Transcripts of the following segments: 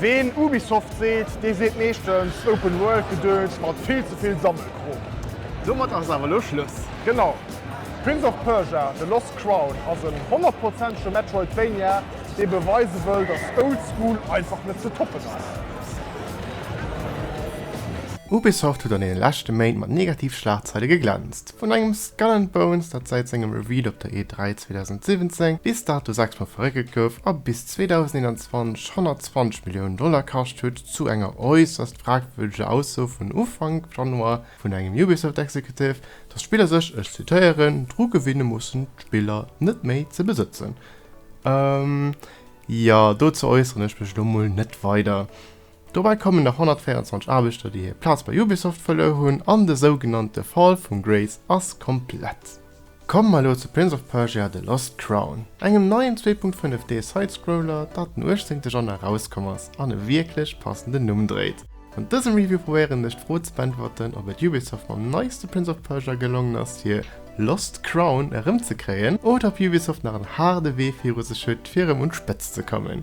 Ween Ubisoft seet, dee seet meeschtens Open World Gedöns mat vill ze vill Sammelkrom. Domat ass awer elo Schluss. Genau. Prince of Persia, The Lost Crown ass en honnertprozentege Metroidvania, dee beweise wëll, dass Old School einfach net ze toppen ass. Ubisoft huet an deene leschte Méint mat Negativ-Schlagzeile geglänzt. Vun engem Skull and Bones, dat säit sengem Reveal op der E3 2017 bis dato sechsmol verréckelt gouf a bis 2021 120 Milliounen Dollar kascht huet, zu enger äusserst fragwürdeger Ausso vun Ufank Januar vun engem Ubisoft-Executive, datt d'Spiller sech, ech zitéieren, dru gewinne mussen, d'Spiller net méi ze besëtzen. Jo, dozou äusseren ech mech elo mol net weider. Dobäi kommen nach 124 Aarbechter, déi hir Plaz bei Ubisoft verluer hunn, an de sougenannte Fall vum Grace ass komplett. Komme mer elo zu Prince of Persia, The Lost Crown, engem neien 2.5D-Sidescroller, dat den 18. Januar erauskomm ass an e wierklech passenden Numm dréit. An dësem Review probéieren ech d'Fro ze beäntwerten, ob et Ubisoft mam neiste Prince of Persia gelongen ass, hir Lost Crown erëmzekréien, oder ob Ubisoft nach en haarde Wee viru sech huet, fir erëm un d'Spëtzt ze kommen.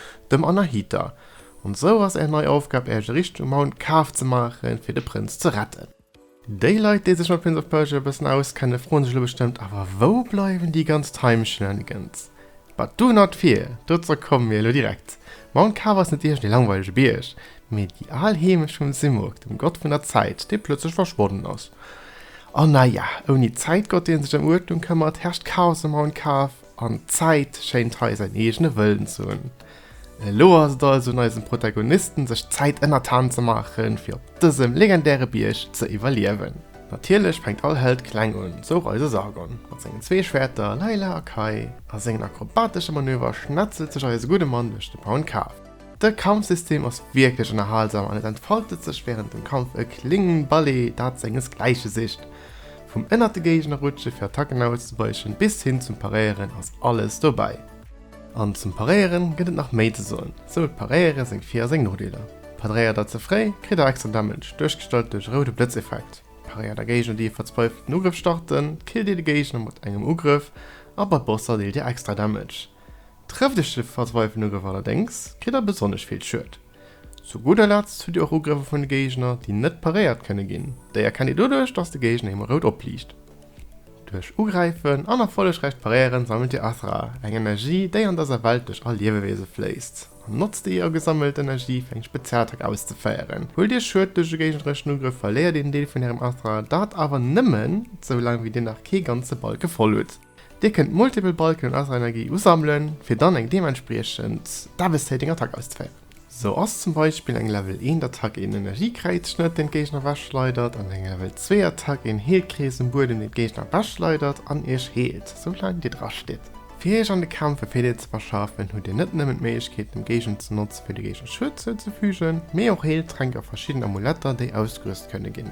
Dem Anahita. An esou ass är nei Aufgab Äerch e richtege Mount Kaf ze maachen fir de Prënz ze retten. Déi Leit déi sech mat Prince of Persia e bëssen auskenne froen sech elo bestëmmt, Awer wou bleiwen déi ganz Time Shenanigans? But do not fear, dozou komme mir elo direkt. Mount Kaf ass net iergend ee langweilege Bierg, mee déi al Heemecht vum Simurgh, dem Gott vun der Zäit, dee plëtzlech verschwonnen ass. An naja, ouni Zäitgott deen sech ëm Uerdnung këmmert, herrscht Chaos um Mount Kaf. An d'Zäit schéint hei säin eegene Wëllen ze hunn. Elo ass et also un eisem Protagonisten, sech d'Zäit ënnertan ze maachen, fir op dësem legendäre Bierg ze iwwerliewen. Natierlech fänkt all Held kleng un, sou och eise Sargon. Mat sengen zwee Schwäerter Layla a Kai a sengen akrobatesche Manöver schnetzelt sech eise gudde Mann duerch de Pound Cave. De Kampfsystem ass wierklech ënnerhalsam an et entfaltet sech wärend dem Kampf e kléngen Ballet dat senges Gläiche sicht. Vum ënnert de Géigner rutsche fir Attacken auszeweischen bis hin zum Paréieren ass alles dobäi. An zum Paréieren gëtt et nach méi ze soen, sou huet Paréiere seng Vir a seng Nodeeler. Padréiert der ze fréi kritt der extra Damage, duerchgestallt duerch e roude Blëtzeffekt. Paréiert der Géigner déi e verzweifelten Ugrëff starten, killt dir de Géigner mat engem Ugrëff a bei Bosser deelt dir extra Damage. Trëfft iech de verzweifelten Ugrëff allerdéngs, kritt der besonnesch vill Schued. Zu gudder Letzt hutt dir och Ugrëffer vun de Géigner, déi net paréiert kënne ginn. Déi erkennt dir doduerch, datt de Géigner him rout opliicht. Duerch Ugräifen an erfollegräicht Paréieren sammelt dir Athra, eng Energie, déi an dëser Welt duerch all Liewewiese fléisst, an notzt déi ier gesammelt Energie, fir eng Spezialattack auszeféieren. Huelt dir Schued duerch e géignereschen Ugrëff, verléiert een Deel vun ärem Athra, dat awer nëmmen, esou laang wéi dir nach kee ganze Balke voll hutt. Dir kënnt multipel Balken un eiser Energie usammelen, fir dann eng deementspriechend devastating Attack auszeféieren. Sou ass zum Beispill eng Level 1 Attack een Energiekräizschnëtt, deen d'Géigner ewechschleidert, an eng Level 2 Attack een Heelkrees um Buedem, deen d'Géigner ewechschleidert an iech heelt, sou laang dir dra stitt. Fir iech an de Kämpf e Virdeel ze verschafen, hutt dir net nëmmen d'Méiglechkeet dem Géigner ze notzen, fir de Géigner Schued zouzefügen, mee och Heeltränk a verschidden Amuletter, déi ausgerüst kënne ginn.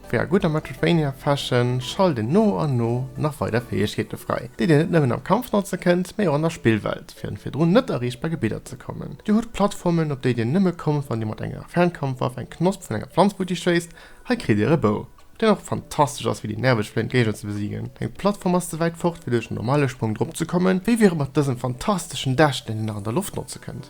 Wéi a gudder Metroidvania Fashion schalt een no an no nach weider Fäegkeete fräi, déi dir net nëmmen am Kampf notze kënnt, mee och an der Spillwelt, fir an virdrun net erreechbar Gebidder ze kommen. Dir hutt Plattformen, op déi dir nëmme kommt, wann dir mat enger Fernkampfwaff eng Knosp vun enger Planz futti schéisst. Hei kritt dir e Bou, deen och fantastesch ass, fir déi nerveg fléiend Géigner ze besiegen. Deng Plattform ass ze wäit fort, fir duerch den normale Sprong drop ze kommen. Wéi wier et mat dësem fantasteschen Däschden, deen nach an der Loft notze kënnt?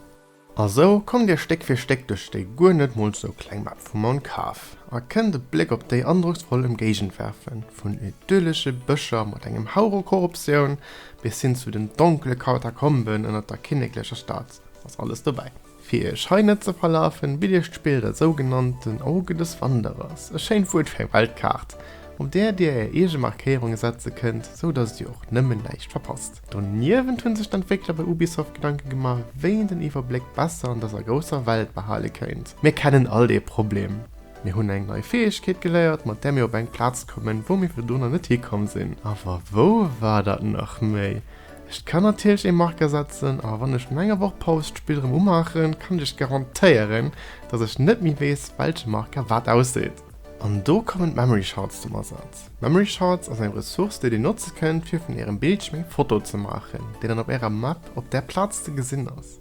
A sou kommt Dir Stéck fir Stéck duerch déi guer net mol sou kleng Map vum Mount Kaf a kënnt e Bléck op déi androcksvoll Ëmgéigend werfen, vun idyllische Bëscher mat engem Hauch u Korruptioun bis hin zu den donkele Katakomben ënnert der kinneklecher Stad ass alles dobäi. Fir Iech hei net ze verlafen, bitt Iech d'Spill der sougenannten Auge des Wanderers, e schéint Wuert fir eng Weltkaart, op där Dir Är eege Markéierunge setze kënnt, sou dass Dir och nëmmen näischt verpasst. Doniewent hunn sech d'Entwéckler bei Ubisoft Gedanken gemaach, wéi een den Iwwerbléck besser an dëser grousser Welt behale kéint. Mir kennen all dee Problem. Mir hunn eng nei Fäegkeet geléiert, mat där mir op eng Plaz kommen, wou mir virdu nach net hikomm sinn. Awer wou war dat nach méi? Ech kann natierlech ee Marker setzen, awer wann ech no enger Woch Paus d'Spill rëm umaachen, kann ech iech garantéieren, dass ech net méi weess, welche Marker wat ausseet. An do kommen d'Memory Shards zum Asaz. D'Memory Shards ass eng Ressource déi dir notze kënnt fir vun ärem Bildschierm eng Foto ze maachen, déi dann op ärer Map op där Plaz ze gesinn ass.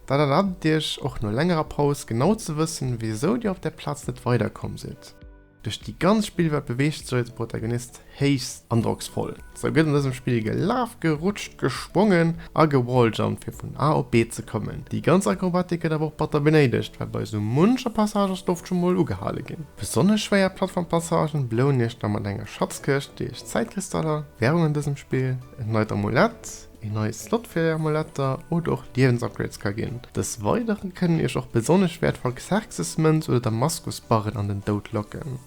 Dat erlaabt iech och no längerer Paus genau ze wëssen wisou dir op där Plaz net weider komm sidd. Duerch déi ganz Spillwelt beweegt sech eise Protagonist Héichst androcksvoll, sou gëtt an dësem Spill gelaf, gerutscht, gesprongen a gewalljumpt fir vun A op B ze kommen. Déi ganz Akrobatik gëtt awer och batter benéidegt, well bei sou muncher Passage ass d'Loft scho mol ugehale ginn. Besonnesch schwéier Plattformpassagen belounen iech da mat enger Schatzkëscht, déi iech Zäitkristaller, Wärung an dësem Spill, en neit Amulett, een neie Slot fir är Amuletter oder och Liewensupgrades ka ginn. Dës weidere kënnen iech och besonnesch wäertvoll Xerxesmënz oder Damaskusbarren an den Doud locken.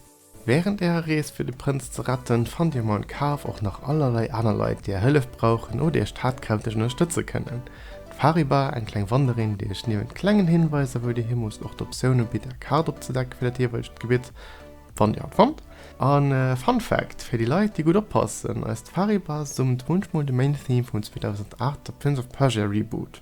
Während ärer Rees fir de Prënz ze retten, fannt dir mam Kaf och nach allerlei aner Leit, déi är Hëllef brauchen oder iech tatkräfteg ënnerstëtze kënnen. D'Fariba, eng kleng Wanderin, déi iech niewent klengen Hinweiser, wou dir himusst, och d'Optioun ubitt, är Kaart opzedecken fir dat jeeweilegt Gebitt, wann dir hatt fannt. A Fun Fact, Fir déi Leit, déi gutt oppassen, eist d'Fariba summt munchmol de Main Theme vum 2008 The Prince of Persia Reboot.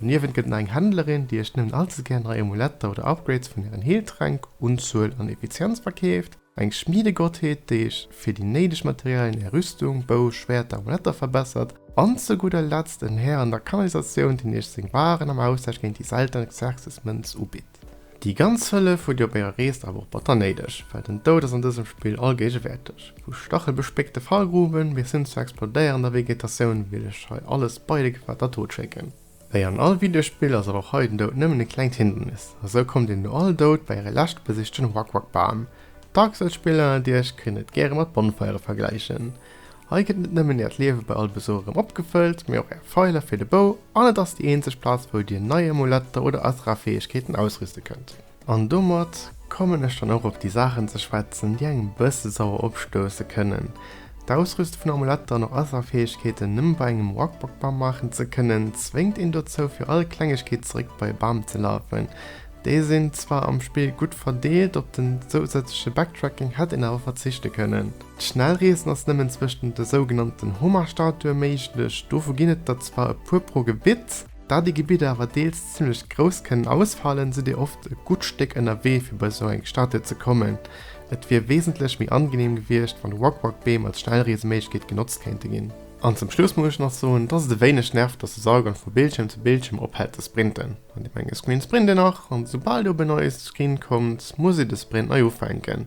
Doniewent gëtt nach eng Händlerin, déi iech nëmmen allze gär nei Amuletter oder Upgrades vun ären Heeltränk, Unzuel an Effizienz verkeeft, eng Schmiedegottheet, déi iech fir déi néideg Materialien är Rüstung, Bou, Schwäerter, Amuletter verbessert, an zu gudder Letzt en Här an der Kanalisatioun, deen iech seng Waren am Austausch géint déi selten Xerxes-Mënz ubitt. Déi ganz Hëllef hutt dir op ärer Rees awer och batter néideg, well den Doud ass an dësem Spill allgéigewäerteg. Vu stachelbespéckte Fallgruwen bis hin zur explodéierender Vegetatioun wéilt lech hei alles beide gefaart der Tod schécken. Wéi an all Videospill ass awer och hei den Doud nëmmen e klengt Hindernis, a sou kommt een no all Doud bei äre lescht besichten Wak-Wak-Bam. D'Dark Souls Spiller ënnert iech kënnen et gäre mat Bonfeiere vergläichen. Hei gëtt net nëmmen äert Liewe bei all Besuch erëm opgefëllt, mee och är Feiler fir de Bou an et ass déi eenzeg Plaz wou dir nei Amuletter oder Asrafäegkeeten ausrüste kënnt. An domat kommen ech dann och op déi Saachen ze schwätzen, déi engem e bësse sauer opstousse kënnen. D'Ausrüste vun Amuletter an och Asrafäegkeeten nëmme bei engem Wak-Wak-Bam maachen ze kënnen, zwéngt een dozou fir all Klengegkeet zeréck bei e Bam ze lafen. Déi sinn zwar am Spill gutt verdeelt, op den zousätzleche Backtracking hätt een awer verzichte kënnen. D'Schnellreesen ass nëmmen zwëschten de sougenannten Homarstatue méiglech, dovu ginn et der zwar e puer pro Gebitt. Da déi Gebidder awer deels zimmlech grouss kënnen ausfalen, sidd dir oft e gutt Stéck ënnerwee fir bei sou eng Statue ze kommen. Et wier wesentlech méi angeneem gewiescht, wann Walk-Walk-Beem als Schnellreeseméiglechkeet genotzt kéinte ginn. An zum Schluss muss ech nach soen, dass et e wéineg nervt, dass de Saugang vu Bildschierm zu Bildschierm ophält ze sprinten. An deem enge Screen sprint een nach, an esoubal dir op en neie Screen kommt, muss ee de Sprint nei ufänken.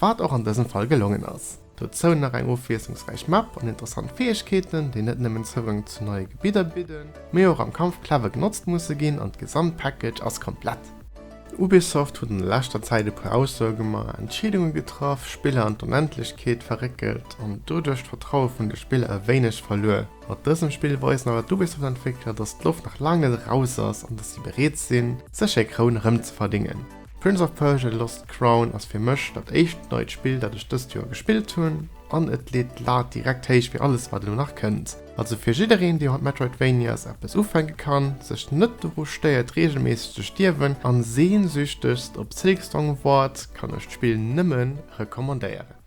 Wat och an dësem Fall gelongen ass. Dozou nach eng ofwiesslungsräich Map an interessant Fäegkeeten, déi net nëmmen Zougang zu neie Gebidder bidden, mee och am Kampf clever genotzt musse ginn an d'Gesamtpackage ass komplett. Ubisoft huet an der leschter Zäit e puer Aussoe gemaach, Entscheedunge getraff, Spiller an d'Onendlechkeet verréckelt an doduerch d'Vertraue vun de Spiller e wéineg verluer. Mat dësem Spill weisen awer d'Ubisoft-Entwéckler, dass d'Loft nach laang net eraus ass an dass si bereet sinn, sech hir Kroun erëmzeverdéngen. Prince of Persia, The Lost Crown ass fir mech dat éischt neit Spill dat ech dëst Joer gespillt hunn, an et leet d'Lat direkt héich fir alles wat elo nach kënnt. Also fir jiddereen dee mat Metroidvanias eppes ufänke kann, sech net doru stéiert reegelméisseg ze stierwen, an sehnsüchtegst op Silk Song waart, kann ech d'Spill nëmmen recommandéieren.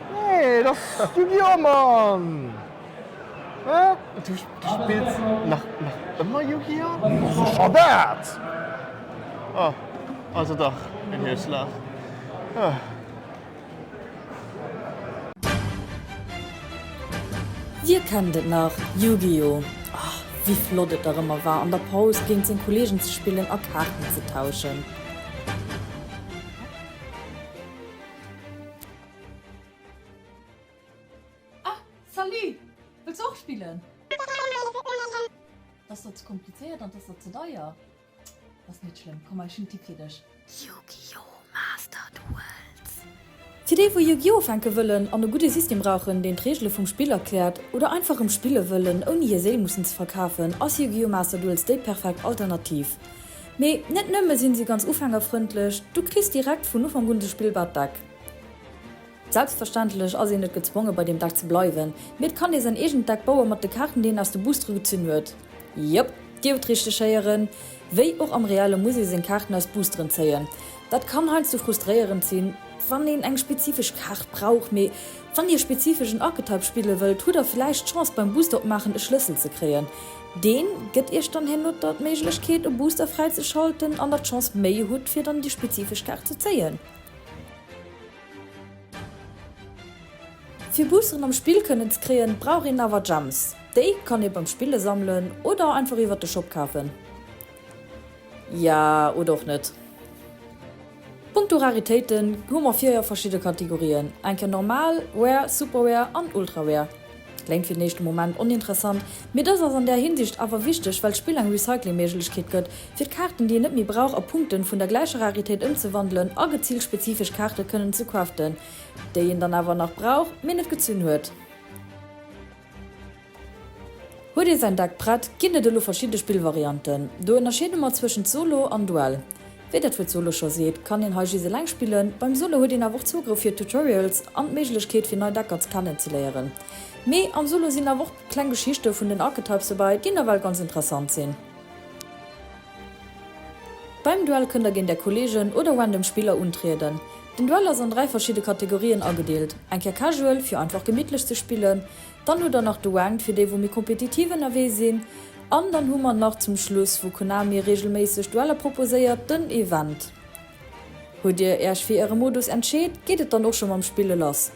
Nee, et ass Yu-Gi-Oh! Mann! Hä? Du spills nach ëmmer Yu-Gi-Oh? Scho dat! Oh, also dach en Hierschlag. Huh. Dir kennt et nach, Yu-Gi-Oh! Oh, wéi flott et dach ëmmer war, an der Paus géint seng Kolleegen ze spillen a Kaarten ze tauschen. Ah, salut! Wëlls och spillen? T'ass der ze komplizéiert an t'ass der ze deier. Ass net schlëmm, komm ech hunn e Tipp fir dech. Yu-Gi-Oh! Master Duels. Fir déi wou Yu-Gi-Oh! Ufänke wëllen an e gudde System brauchen, deen d'Reegele vum Spill erkläert, oder einfach rëm spille wëllen ouni hir Séil mussen ze verkafen, ass Yu-Gi-Oh! Master Duels déi perfekt Alternativ. Mee net nëmme sinn si ganz ufängerfrëndlech, du kriss direkt vun Ufank un de Spillbart Deck. Selbstverständlech ass een net gezwonge bei deem Deck ze bleiwen, mee et kann ee säin eegent Deck bauen mat de Kaarten déi een aus de Boostere gezunn huet. Jop, dir hutt richteg héieren, wéi och am Reelle muss ee seng Kaarten aus Boosteren zéien. Dat kann heiansdo frustréierend sinn, wann een eng spezifesch Kaart brauch, mee wann dir spezifesch en Archetype spille wëllt, hutt der villäicht d'Chance beim Booster opmaachen e Schlëssel ze kréien. Deen gëtt iech dann herno d'Méiglechkeet e Booster fräizeschalten an der d'Chance méi hutt fir dann déi spezifesch Kaart ze zéien. Fir Boosteren am Spill kënnen ze kréien, brauch een awer Gems. Déi kann ee beim Spille sammelen oder einfach iwwert de Shop kafen. Ja, oder och net. Punkto Raritéiten hu mer 4 verschidde Kategorien, eng Kéier normal, rare, super rare an ultra rare. Kléngt fir den éischte Moment oninteressant, mee dëst ass an där Hinsicht awer wichteg, well d'Spill eng Recycling-Méiglechkeet gëtt, fir d'Kaarten, déi een net méi brauch, a Punkten vun der gläicher Raritéit ëmzewandelen a geziilt spezifesch Kaarten kënnen ze craften, déi een dann awer nach brauch, mee net gezunn huet. Huet ee säin Deck prett, ginn et elo verschidde Spillvarianten. Do ënnerscheede mer zwëschent Solo an Duell. Wéi dat Wuert Solo scho seet, kann een hei just eleng spillen. Beim Solo huet een awer och Zougrëff fir Tutorials an d'Méiglechkeet fir nei Deckers kennen ze léieren. Mee am Solo sinn awer och kleng Geschichte vun den Archetypes dobäi, déi nawell ganz interessant sinn. Beim Duell kënnt der géint är Kollegen oder random Spiller untrieden. Den Duell ass an 3 verschidde Kategorien agedeelt, eng Kéier Casual, fir einfach gemittlech ze spillen, Dann hutt der nach Douane fir déi wou méi kompetitiv ënnerwee sinn. An dann hu mer nach zum Schluss wou Konami reegelméisseg Dueller proposéiert den Event. Hutt dir äerch fir äre Modus entscheet geet et dann och scho mam Spille lass.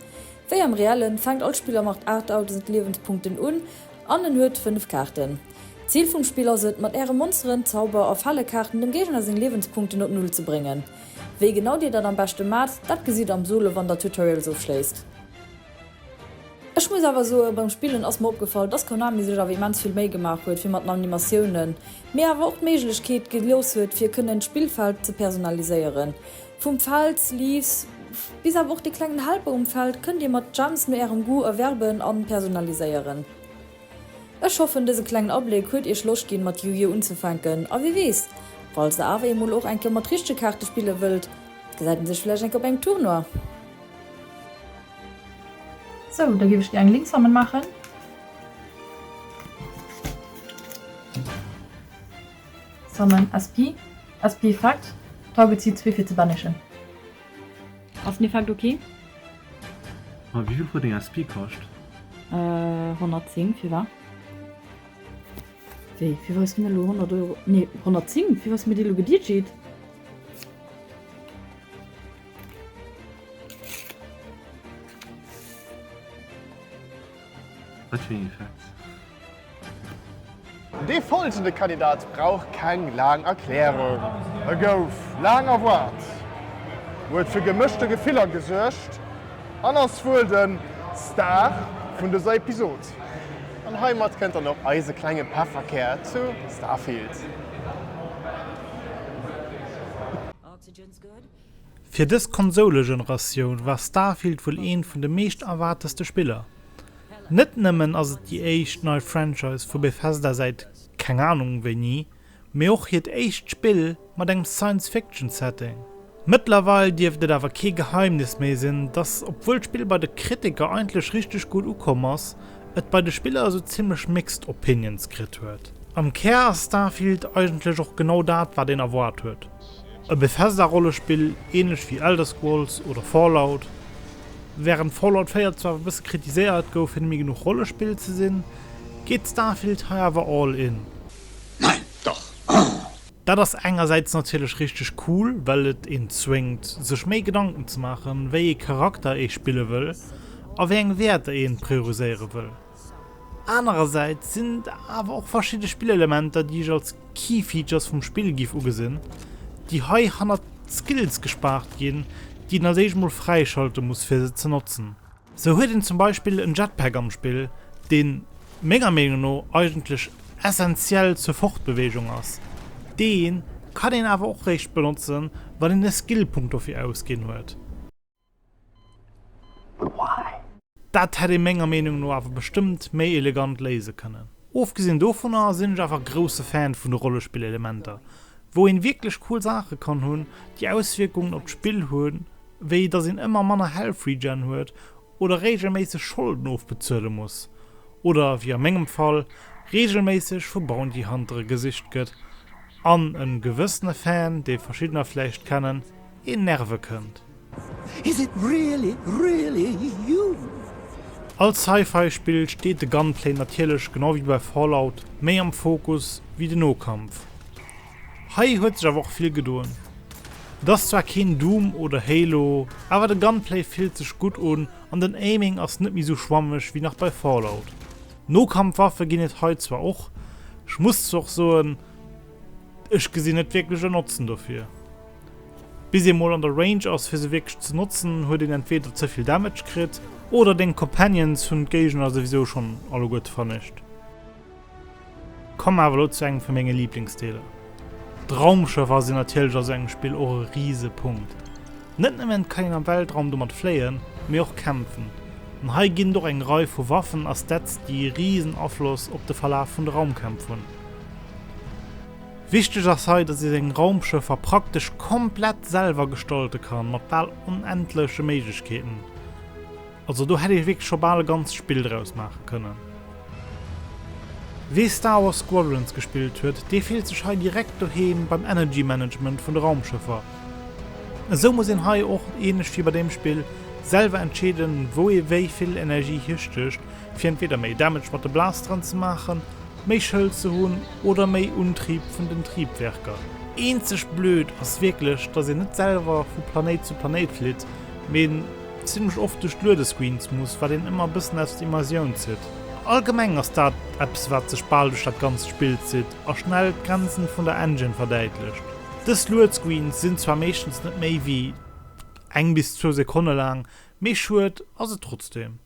Wéi am Reellen fänkt all Spiller mat 8000 Liewenspunkten un an en huet 5 Kaarten. D'Zil vum Spill ass et mat äre Monsteren, Zauber a Fallekaarten dem Géigner seng Liewenspunkten op Null ze bréngen. Wéi genau dir dat am beschte maacht dat gesitt am Solo wann der Tutorials ofschléisst. Ech muss awer soen, beim Spillen ass mer opgefall, dass Konami sech awer immens vill Méi gemaach huet fir mat den Animatiounen, mee awer och d'Méiglechkeet gelooss huet fir kënnen d'Spillfeld ze personaliséieren. Vum Feld, Leaves, bis awer och de klengen Helper um Feld kënnt dir mat Gems no ärem Goût erwerben an personaliséieren. Ech hoffen dëse klengen Abléck huet iech Loscht ginn mat Yu-Gi-Oh unzefänken a wie weess, falls der awer eemol och eng Kéier mat richtege Kaarte spille wëllt, gesäit een sech vläicht eng Kéier op engem Tournoi. Sou, da géif ech gär eng Linksammel maachen. Summon SP. SP Effekt. Target zitt zwee fir ze banishen. Ass den Effekt ok? Ma wéi vill huet eng SP kascht? 110, firwat? Wéi, firwat hues du mir elo 100 Euro, nee 110, firwat hues du mir déi elo gedjit? Wat fir een Effekt? Dee folgende Kandidat brauch keng laang Erklärung. E gouf laang erwaart, huet fir gemëschte Gefiller gesuergt an ass wuel de Star vun dëser Episod. An heimat kënnt dann och eise klenge Pefferkär zu Starfield. Fir dës Konsoule-Generatioun war Starfield wuel een vun de meescht erwaarteste Spiller. Net nëmmen ass et déi éischt nei Franchise vu Bethesda säit keng Anung wéini, mee och hiert éischt Spill mat engem Science-Fiction-Setting. Mëttlerweil dierft et awer kee Geheimnis méi sinn, dass obwuel d'Spill bei de Kritiker eigentlech richteg gutt ukomm ass, et bei de Spiller esou zimmlech mixed opinions kritt huet. Am Kär ass Starfield eigentlech och genau dat, wat een erwaart huet. E Bethesda-Rollespill, änlech wéi Elder Scrolls oder Fallout. Wärend Fallout 4 zwar e bësse kritiséiert gouf fir nemme genuch Rollespill ze sinn, geet Starfield hei awer all in. Nein, doch! Ahh! Dat ass engersäits natierlech richteg cool, well et een zwéngt, sech méi Gedanken ze maachen, wéi ee Charakter ee spille wëll a wéi eng Wäerter een prioriséiere wëll. Anerersäits sinn et awer och verschidde Spillelementer, déi ech als Key Features vum Spill giff ugesinn, déi hei hannert Skills gespaart ginn, déi een als éischt mol fräischalte muss fir se ze notzen. Sou huet een zum Beispill en Jetpack am Spill, deen menger Meenung no eigentlech essentiell zur Fortbewegung ass. Deen kann een awer och réischt benotzen, wann een e Skillpunkt dofir ausginn huet. Dat hätt ee menger Meenung no awer bestëmmt méi elegant léise kënnen. Ofgesinn dovunner sinn ech awer grousse Fan vun de Rollespillelementer, wou een wierklech cool Saache kann hunn, déi Auswierkungen op d'Spill hunn, wéi dass een ëmmer manner Health Regen huet oder reegelméisseg Scholden ofbezuele muss oder, wéi a mengem Fall, reegelméisseg vu Bounty Huntere gesicht gëtt an e gewëssene Fan, dee verschiddener vläicht kennen, een nerve kënnt. Is it really, really you? Als Sci-Fi Spill steet de Gunplay natierlech genau wéi bei Fallout méi am Fokus wéi den Nokampf. Hei huet sech awer och vill gedoen. Et ass zwar keen Doom oder Halo, awer de Gunplay fillt sech gutt un an den Aiming ass net méi sou schwammeg wéi nach bei Fallout. Nokampfwaffe ginn et hei zwar och, ech muss zwar och soen, ech gesinn net wierklech en Notzen dofir. Bis ee mol an der Range ass fir se wierklech ze notzen, huet een entweeder ze vill Damage kritt, oder deng Companions hunn d'Géigner souwisou schonn alleguerte vernescht. Komme mer awer elo zu engem vu menge Liblingsdeeler. D'Raumschëffer sinn natierlech a sou engem Spill och e rise Punkt. Net nëmmen kann een am Weltraum domat fléien, mee och kämpfen. An hei ginn et och eng Rei vu Waffen a Stats déi e risen Afloss op de Verlaf vun de Raumkämpf hunn. Wichteg ass hei, dass ee seng Raumschëffer praktesch komplett selwer gestalte kann, mat bal onendleche Méiglechkeeten. Also do hätt ee wierklech scho bal e ganzt Spill draus maache kënnen. Wee Star Wars Squadrons gespillt huet, dee fillt sech hei direkt doheem beim Energy Management vun de Raumschëffer. Esou muss een hei och, ähnlech wéi bei deem Spill, selwer entscheeden, wou ee wéi vill Energie hirstécht, fir entweder méi Damage mat de Blasteren ze maachen méi Schëld ze hunn oder méi Untrieb vun den Triebwerker. Eenzeg blöd ass wierklech, dass een net selwer vu Planéit zu Planéit flitt, mee zimmlech oft duerch d'Luedescreens muss, wat een ëmmer e bëssen aus der Immersioun zitt. Allgemeng ass dat eppes, wat sech bal duerch dat ganzt Spill zitt a schnell d'Grenzen vun der Engine verdäitlecht. Dës Luedscreens sinn zwar meeschtens net méi wéi eng bis zwou Sekonne laang, mee schued ass et trotzdem.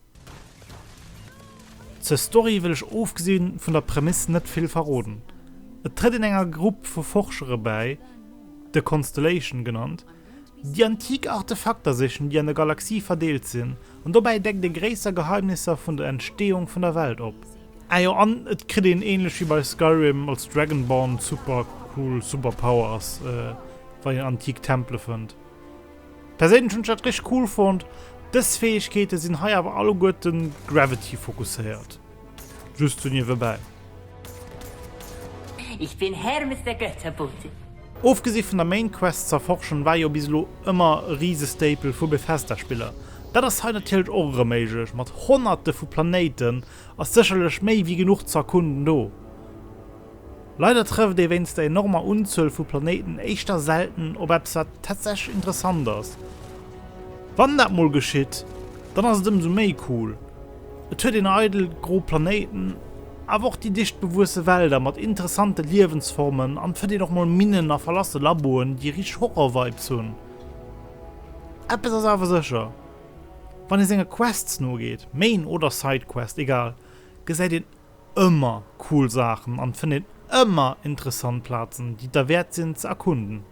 Zur Story wëll ech ofgesi vun der Prämiss net vill verroden. Et trëtt een enger Grupp vu Forschere bäi, de Constellation genannt, déi antik Artefakter sichen, déi an der Galaxie verdeelt sinn, an dobäi deckt ee gréisser Geheimnisser vun der Entsteeung vun der Welt op. Ah jo, an et kritt een, ähnlech wéi bei Skyrim, als Dragonborn supercool Superpowers, wa een antik Tempele fënnt. Perséinlech hunn ech dat richt cool fonnt. Dës Fäegkeete sinn hei awer alleguerten Gravity fokusséiert. Just sou niewebäi. Ich bin Hermes der Götterbote. Ofgesi vun der Main Quest z'erforschen, war jo bis elo ëmmer e rise Staple vu Bethesda Spiller. Dat ass hei natierlech och erëm méiglech, mat honnerte vu Planéiten, ass sécherlech méi wéi genuch ze erkunden do. Leider trëfft ee wéinst der enormer Unzuel vu Planéiten éischter selten op eppes wat tatsächlech interessant ass. Wann dat mol geschitt, dann ass et ëmsou méi cool, et huet een eidel gro Planéiten, awer och déi dicht bewuesse Wälder mat interessante Liewensformen an et fënnt een och mol Minnen a verlasse Laboen, déi richteg Horror-Vibes hunn. Eppes ass awer sécher. Wann ee senge Quests nogeet, Main oder Sidequest, egal, gesäit een ëmmer cool Saachen an fënnt een ëmmer interessant Plazen, déi et derwäert sinn ze erkunden.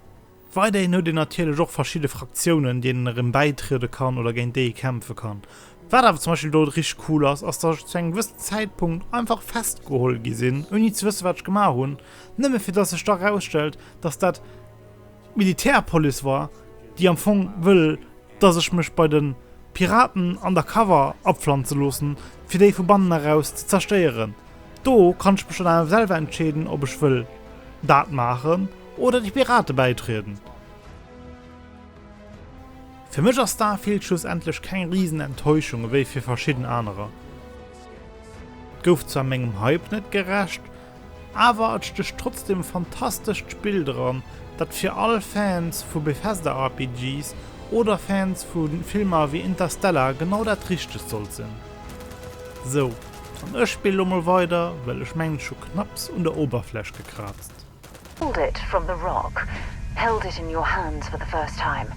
Weiderhin huet een natierlech och verschidde Fraktiounen, deenen erëm bäitriede kann oder géint déi ee kämpfe kann. Wat awer zum Beispill do richteg cool ass, ass, dass ech zu engem gewëssen Zäitpunkt einfach festgeholl gi sinn, ouni ze wësse wat ech gemaach hunn, nëmme fir dass sech da erausstellt, dass dat, d'Militärpolice war, déi am Fong wëll, dass ech mech bei de Piraten undercover apflanze loossen, fir déi vu bannen eraus ze zerstéieren. Do kann ech mech dann awer selwer entscheeden, ob ech wëll dat maachen oder de Pirate bäitrieden. Fir mech ass Starfield schlussendlech keng risen Enttäuschung, ewéi fir verschidden anerer. Et gouf zwar mengem Hype net gerecht, Awer et stécht trotzdem fantastescht Spill dran, dat fir all Fans vu Bethesda-RPGs oder Fans vu Filmer wéi Interstellar genau dat Richtegt sollt sinn. Sou, an ech spille lo mol weider, well ech mengen ech hu knapps un der Oberfläch gekraazt. Pulled it from the rock, held it in your hands for the first time,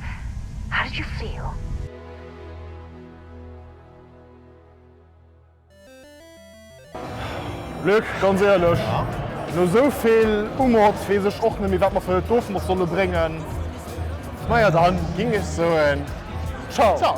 how did you feel? Luc, ganz éierlech, no esou vill Umotz weess ech och net méi wat mer fir Dofen och solle bréngen. Naja, dann ging ech soen Ciao!